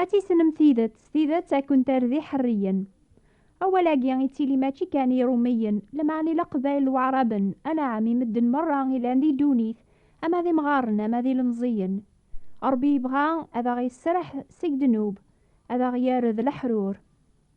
Ad tissnem tidet, tidet ad kent-terr-d iḥerriyen. Awal-agi yettili mačči kan i Iṛumiyen, lmeɛna i Leqbayel n Waɛṛaben, anaɛam i medden meṛṛa ilan di ddunit, ama d imɣaren ama d ilemẓiyen. Ṛebbi yebɣa ad aɣ-yesreḥ seg ddnub, ad aɣ-yerr d leḥrur.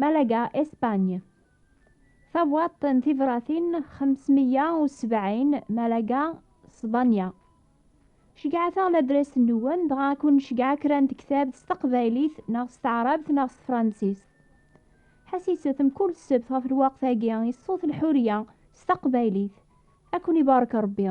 Malaga, Espagne Tabwaḍt n tibratin 570 Malaga, Spanya Ceggɛet-aɣ ladres-nwen, dɣa ad kun-nceggeɛ kra n tektabt s teqbaylit neɣ s teɛrabt neɣ s tefransist. Ḥassiset mkul ssebt ɣef lweqt-agi i ṣṣut lḥurya s taqbaylit. Ad kun-ibarek Rebbi.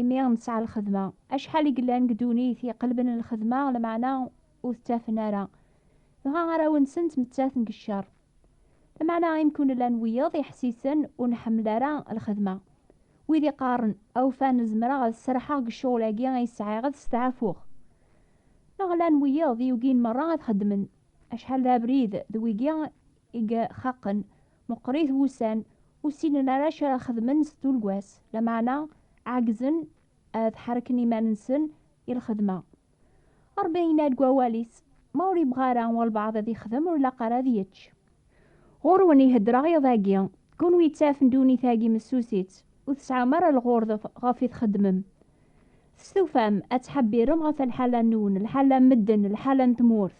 Imi nesɛa lxedma. Acḥal i yellan deg ddunit iqelben lxedma, lameɛna ur t-ttafen ara. Dɣa arraw-nsen ttmettaten deg ccer. Lameɛna imekku nella n wiyeḍ iḥessisen ur nḥemmel ara lxedma. Wid iqqaren, Awfan, zemreɣ ad sserḥeɣ deg ccɣel-agi ay sɛiɣ, ad steɛfuɣ. Neɣ llan wiyeḍ yugin merra ad xedmen. Acḥal d abrid d wigi i yxaqen, meqqrit wussan, ur ssinen ara acu ara xedmen s tulgwas, lameɛna ɛeggzen ad ḥerken iman-nsen i lxedma. Ṛebbi yenna-d deg Wawal-is, Ma ur yebɣi ara walbeɛḍ ad yexdem, ur ilaq ara ad yečč. Ɣur-wen i heddreɣ iḍ-agi, kunwi yettafen ddunit-agi messusit, ur tesɛum ara lɣurḍ ɣef i txeddmem. Testufam ad ttḥebbirem ɣef lḥala-nwen, lḥala n medden, lḥala n tmurt.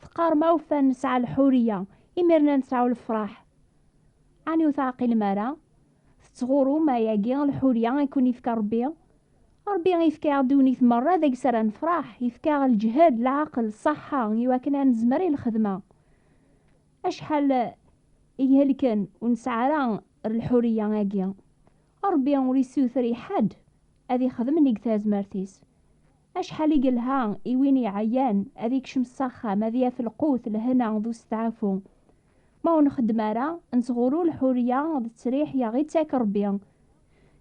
Teqqar ma ufan nesɛa lḥuriya, imirna nesɛu lefraḥ. Ani ur teɛqilem ara? Tettɣurum ayagi lḥuriya i kun ifka Rebbi? Rebbi ifka aɣ ddunit merra deg s ara nefraḥ, ifka aɣ lǧhed, leɛqel, ṣaḥḥa i wakken a nezmer i lxedma. Acḥal i ihelken ur nesɛa ara lḥuriya agi. Ṛebbi ur issuter i ḥedd ad ixdem nnig tazmert-is. Acḥal i yelha i win iɛyan ad ikcem s axxam ad yaf lqut, lehna d usteɛfu. Ma ur nxeddem ara, nettɣuru lḥuriya d ttriḥ i aɣ-ittak Ṛebbi.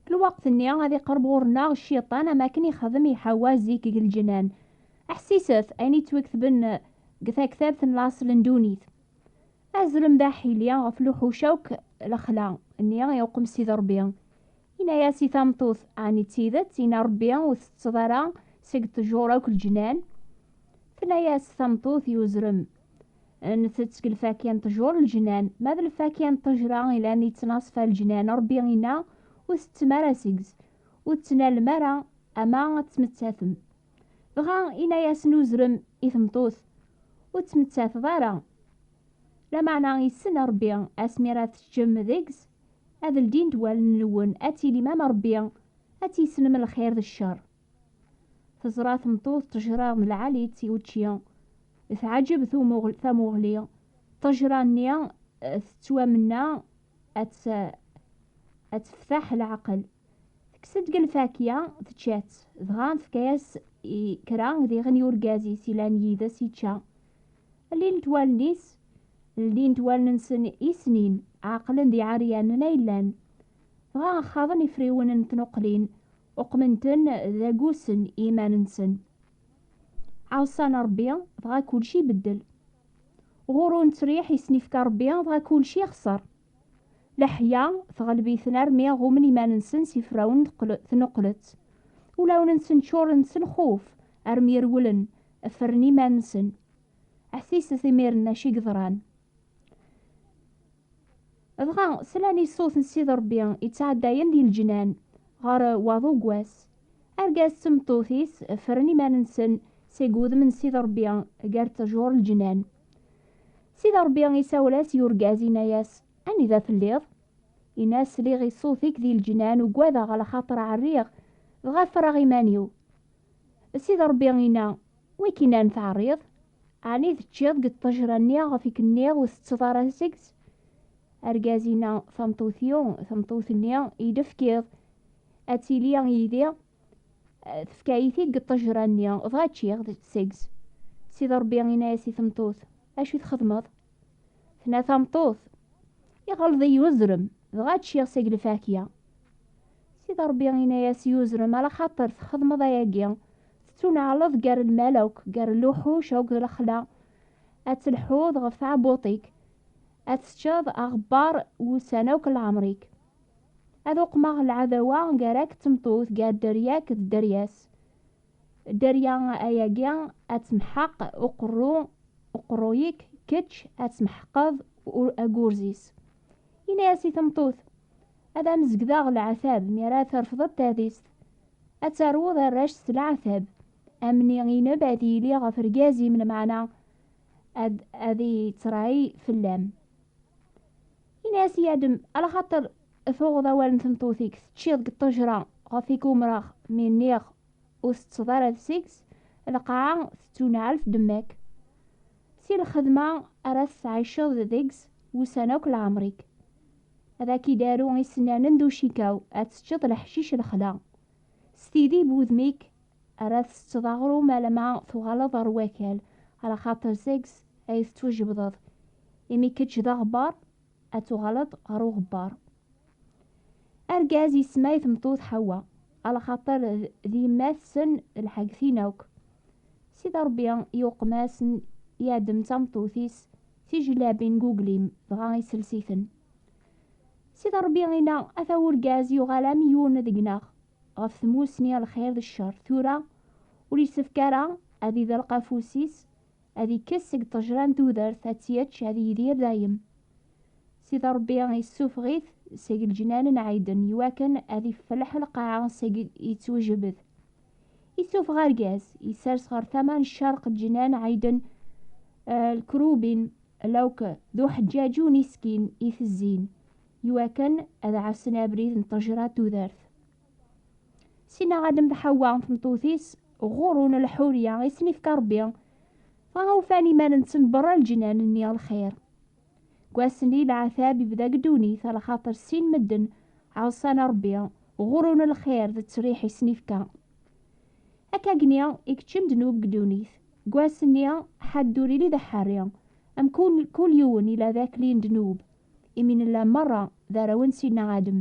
Deg lweqt-nni ad iqerb ɣur-neɣ Cciṭan am akken ixdem i Ḥawwa zik deg lǧennan. Ḥsiset ayen i ttwaketben deg taktabt n laṣel n ddunit. Azulem d aḥili ɣef luḥuc akk lexla nni i uqem Sidi Rebbi. Yenna-yas i tameṭṭut, ɛni d tidet yenna Rebbi ur tettetteḍ ara seg ṭejur akk leǧnan? Tenna-yas tameṭṭut i uzrem, Ntett seg lfakya n ṭejur leǧnan, ma d lfakya n ṭejra ilan yettnaṣfa leǧnan Rebbi yenna ur tettettem ara seg-s, ur tettnalem ara ama ad tmettetem. Dɣa ina-yasen uzrem i tmeṭṭut, Ur ttmettateḍ ara. Lameɛna yessen Rebbi asmi ara teččem deg-s, ad ldint wallen-nwen, ad tilim am Rebbi, ad tissnem lxir d ccer. Teẓra tmeṭṭut ṭṭejra n lɛali-tt i učči, teɛǧeb tamuɣli, ṭṭejra-nni tettwamenna ad teftaḥ leɛqel. Tekkes-d deg lfakya, tečča-tt, dɣa tefka-as i kra diɣen i urgaz-is yellan yid-s yečča. Llint wallen-is, llint wallen-nsen i snin, ɛeqlen d iɛeryanen ay llan. Dɣa xaḍen ifriwen n tnuqlin, uqmen-ten d agusen i yiman-nsen. Ɛeṣṣan Rebbi, dɣa kulci ibeddel. Ɣur-u nettriḥ, yesnifka Rebbi, dɣa kulci ixṣer. Leḥya teɣleb-iten armi ɣummen iman-nsen s iferrawen tnuqlet. Ulawen-nsen ččuren s lxuf armi rewlen ffren iman-nsen. Ḥsiset imiren acu i yeḍran. Dɣa slan i ṣṣut n Sidi Ṛebbi yettɛeddayen di leǧnan ɣer waḍu n wass. Argaz d tmeṭṭut-is ffren iman-nsen seg wudem n Sidi Ṛebbi gar ttjur leǧnan. Sida Ṛebbi isawel-as i urgaz, inna-yas, Anida telliḍ? Inna-as, Sliɣ i ṣṣut-ik di leǧnan, ugadeɣ, alaxaṭer ɛerriɣ, dɣa ffreɣ iman-iw. Sida Ṛebbi inna, Wikkin ara n-teɛriḍ? Ɛni teččiḍ deg ṭṭejra-nni iɣef i k-nniɣ ur tettetteḍ ara seg-s? Argaz inna, Tameṭṭut-iw, tameṭṭut-nni i d-tefkiḍ, ad tili yid-i. tefka-yi-t-id deg ṭṭejra-nni, dɣa ččiɣ seg-s. Sidi Ṛebbi yenna-yas i tmeṭṭut, Acu i txedmeḍ? Tenna tameṭṭut, Iɣelleḍ-iyi uzrem, dɣa ččiɣ seg lfakya. Sidi Ṛebbi yenna-yas i uzrem, Ala xaṭer txedmeḍ ayagi, tettuneɛleḍ gar lmal akk, gar luḥuc akked lexla, ad telḥuḍ ɣef tɛebbuṭ-ik, ad teččeḍ aɣebbar wussan akk n leɛmer-ik. Ad uqmeɣ lɛadawa gar-ak d tmeṭṭut, gar dderya-k d dderya-s. Dderya ayagi ad temḥeq uqerru uqerruy-ik, kečč ad tmeḥqeḍ agurz-is. Yenna-as i tmeṭṭut, Ad am-zegdeɣ leɛtab mi ara trefdeḍ tadist. Ad taruḍ arrac s leɛtab. Amni ineb ad yili ɣef rgaz-im, lmeɛna ad ad ittray fell-am. Ini-as i Adem, ala xaṭer tuɣeḍ awal n tmeṭṭut-ik, teččiḍ deg ṭṭejra ɣef i k-umreɣ, mi nniɣ ur teṭṭseḍ ara d seg-s, lqaɛa tettunɛel fdemma-k. Si lxedma ara teţɛiceḍ deg-s wussan akk lɛemr-ik. Ad ak-id-aru isennanen d ucikaw, ad teččeḍ leḥcic lexla. S tidi n wudem-ik ara tsetteḍ aɣrum alamma tuɣaleḍ ɣer wakal, ala xaṭer seg-s ay tettwajebdeḍ, imi kečč d aɣebbar, ad tuɣaleḍ ɣer uɣebbar. Argaz yesma i tmeṭṭut Ḥawa, alaxaṭer d yemma-tsen lḥagtin akk. Sida Ṛebbi yuqem-as n Yadem d tameṭṭut-is tijellabin n uglim, dɣa isels-iten. Sida Ṛebbi inna, Ata urgaz yuɣal am yiwen deg-neɣ, ɣef tmussni lxir d ccer, tura ur yessefk ara ad idelq afus-is ad ikkes seg ṭejra n tudert ad tt-yečč ad yidir dayem. Sidi Ṛebbi issufeɣ-it seg leǧnan n Ɛiden iwakken ad iffelleḥ lqaɛa seg yettwejbed. Issufeɣ argaz, yessers ɣer tama n ccerq n leǧnan Ɛiden lkerubin lawk d uḥeǧǧaǧu n iskin itezzin iwakken ad ɛassen abrid n ṭejra n tudert. Sinaɣ Adam d Ḥawa tmeṭṭut-is ɣurun lḥurya i sen-ifka Rebbi. Dɣa ufan iman-nsen berra lǧinan-nni lxir. Deg wass-nni leɛtab ibda deg ddunit ala xaṭer sin medden ɛuṣan Rebbi, ɣurun lxir d ttriḥ i sen-ifka. Akkagni i keččem ddnub deg ddunit. Deg wass-nni ḥadd ur ili d aḥerri, am kul yiwen ila d akli n ddnub, imi nella merra d arraw n Sidna Adam.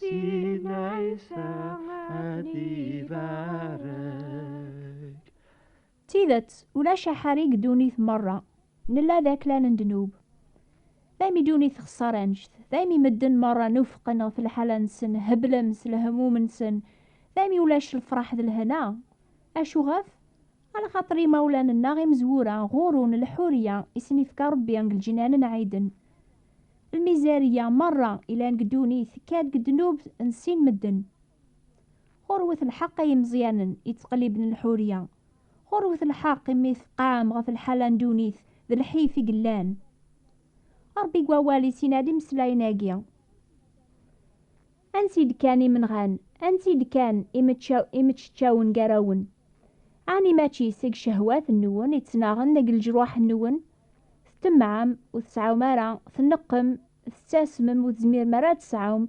D tidet, ulac aḥari deg ddunit merra. Nella d aklal n ddnub. Daymi ddunit texṣer anect, daymi medden merra nufqen ɣef lḥala-nsen, heblen s lehmum-nsen, daymi ulac lefraḥ d lehna. Acu ɣef? Ala xaṭer imawlan-nneɣ imezwura ɣur-wen leḥuriya i sen-ifka Ṛebbi deg leǧnan n Ɛiden. Lmizariya meṛṛa ilan deg ddunit tekka-d deg ddnub n sin medden. Ɣur-wet lḥeqq ay imeẓyanen yettqelliben leḥuriya. Ɣur-wet lḥeqq imi tqam ɣef lḥala n ddunit d lḥif i yellan. Ṛebbi deg wawal-is yenna-d imeslayen-agi. Ansi d-kkan imenɣan? Ansi d-kkan imeččeččawen gar-awen? Ɛni mačči seg cehwat-nwen i ttnaɣen deg leǧruḥ-nwen? Ttemɛem, ur tesɛum ara, tneqqem, tettasmem, ur tezmirem ara ad tesɛum,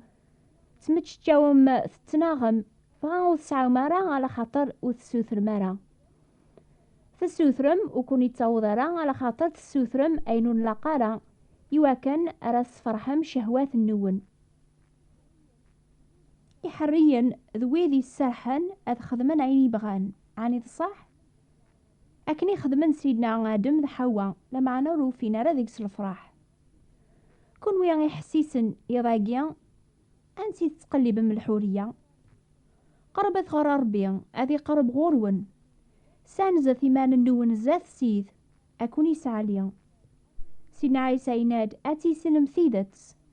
tmeččeččawem, tettnaɣem, dɣa ur tesɛum ara alaxaṭer ur tessutrem ara. Tessutrem, ur ken-ittaweḍ ara alaxaṭer tessutrem ayen ur nlaq ara, iwakken ara tesferḥem cehwat-nwen. iḥerriyen d wid yesserḥen ad xedmen ayen i bɣan ɛni d ṣṣeḥ akken i xedmen sidna adem d ḥawa lameɛna ur ufin ara deg-s lefraḥ kunwi iḥessisen iḍ-agi ansi tettqellibem lḥuriya qerbet ɣer rebbi ad iqerb ɣur-wen sanzet iman-nwen zdat sid akun yesɛali sidna ɛisa yenna-d ad tissinem tidet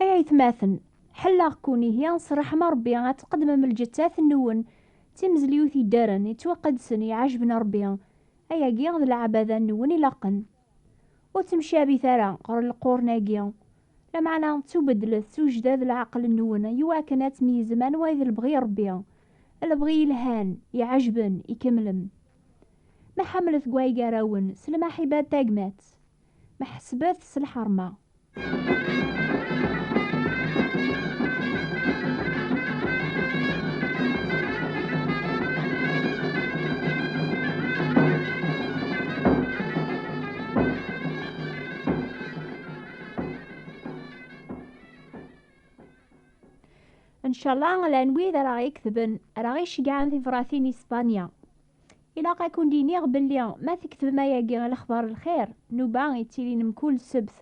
Ay aytmaten, ḥelleɣ-ken ihi s ṛṛeḥma Ṛebbi ad tqeddmem lǧettat-nwen d timezliwt yeddren, yettwaqedsen, iɛejben Ṛebbi, ayagi d lɛebada-nwen ilaqen. Ur ttemcabit ara ɣer leqrun-agi, lameɛna ttubeddlet s ujdad leɛqel-nwen iwakken ad tmeyyzem anwa i d lebɣi Ṛebbi, lebɣi yelhan, iɛejben, ikemlen. Ma ḥemmlet deg way gar-awen s lmaḥiba d tagmat, ma ḥesbat s lḥerma. Ncala llan wid ara ɣ-iketben, ara ɣ-iceggɛen tibratin i Spanya. Ilaq ad kent-iniɣ belli ma tketbem ayagi i lexbar n lxir, nnuba yettilin mkul ssebt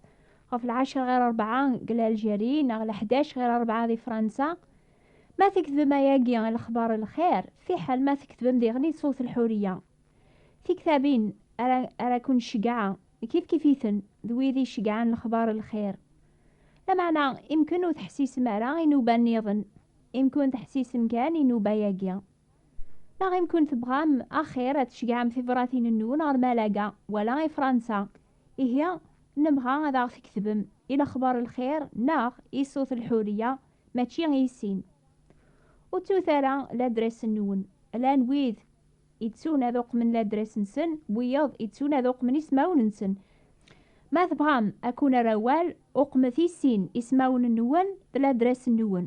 ɣef lɛecra ɣir rebɛa deg Lalǧeri neɣ leḥdac ɣir rebɛa di Fransa, ma tketbem ayagi i lexbar n lxir, fiḥel ma tketbem diɣen-i Sewt Lḥuriya. Tiktabin ara ara ken-ceggɛeɣ kifkif-iten d wid i ceggɛen lexbar n lxir. Lameɛna imken ur teḥsisem ara i nnuba-nniḍen, imken teḥsisem kan i nnuba-yagi. Ma ɣim kun tebɣam axir ad tceggɛem tibṛatin-nnun ɣer Malaga wala i Fransa, ihi nebɣa ad aɣ-tketbem i lexbaṛ lxir neɣ i Sut Lḥuriya mačči i sin. Ur ttut ara ladres-nnun, llan wid ittun ad uqmen ladres-nsen, wiyeḍ ittun ad uqmen ismawen-nsen. Ma tebɣam ad kun-err awal, uqmet i sin ismawen-nnun d ladres-nnun.